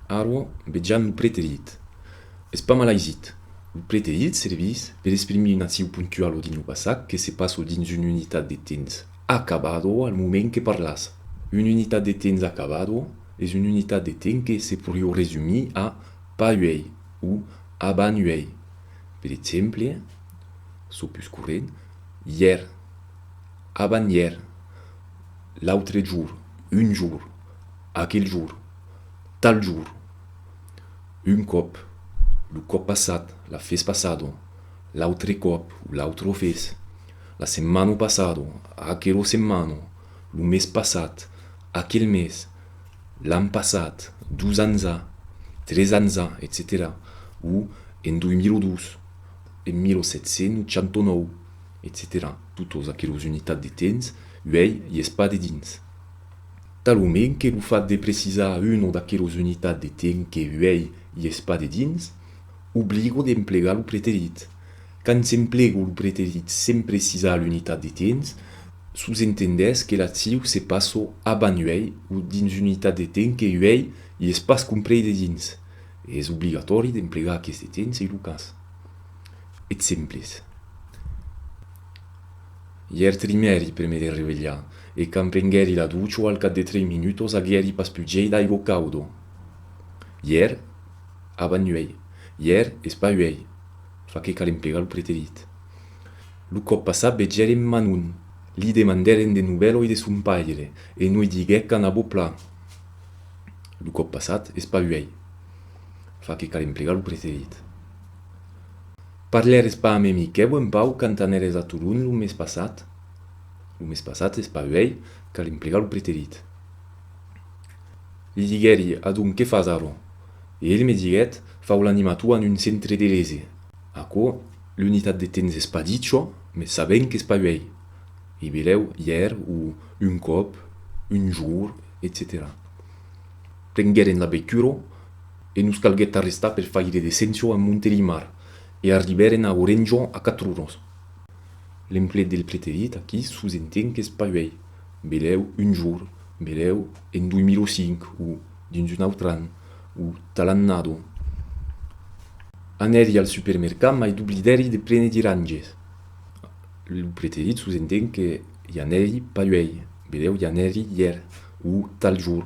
Arro, vejam lo preterit. Es pas mal aisit. Lo preterit servís per exprimir un actiu puntual o dins lo passat que se passa o dins una unitat de temps acabado al moment que parlàs. Una unitat de temps acabado es una unitat de temps que se podriu resumir a pas uèi o abans uèi. Per exemple, çò pus corrent, ièr, abans-ièr, l'autre jorn, un jorn. Aquel jorn. Tal jorn. Un còp. Lo còp passat, la fes passado, l'autre còp o l'autre fes, la setmana passada, aquela setmana, lo mes passat, aquel mes, l'an passat, dos ans a, tres ans a, etcetèra O en 2002, en 1789, etcetèra Totas aquelas unitats de temps uèi i es pas dedins. Talonment que lo fat de precisar una d'aquelos unitats de temps que uèi i es pas dedins, obligo d'emplegar lo preterit. Quand s'emplego lo preterit sens precisar l'unitat de temps, sosentendètz que l'acciu se passo abans uèi o dins un'itat de temps que uèi i es pas comprei dedins. Es obligatòri d'emplegar aqueste temps se lo cas. Exemples. Ièr trimèri pr'e me derrevelhar, e quand prenguèri la ducho al cap de trei minutos aguièri pas pus gei d'aigo caudo. Ièr? Avan uèi. Ièr es pas uèi. Fa que cal emplegar lo preterit. Lo còp passat vegèrem Manon. Li demandèrem de novèloi de son paire, e noi diguèc qu'anavo plan. Lo còp passat es pas uèi. Fa que cal emplegar lo preterit. Parlères pas a me Miquèu en pau quand anères a Tolon lo mes passat? Lo mes passat es pas uèi, cal emplegar lo preterit. Li diguèri, Adonc, qué fas arrò? E el me diguèt, Fau l'animator en un centre de lese. Aquò, l'unitat de temps es pas dit çò, mes sabèm qu'es pas uèi. E belèu, ièr, o un còp, un jour, etcetèra. Prengueren la veitura e nos calguèt arrestar per fai de descension a Montelimar e arribèren a Orenjon a Catrunos. L'emplet del preterit aquí sus entenc qu'es paüèi, belèu un jour, belèu en 2005 o dins un autre an o talannado. Anèri al supermercat mai doblidèri de prene diranges. Lo preterit sus entenc que i anèri paüèi, belèu i anèri ièr o tal jour.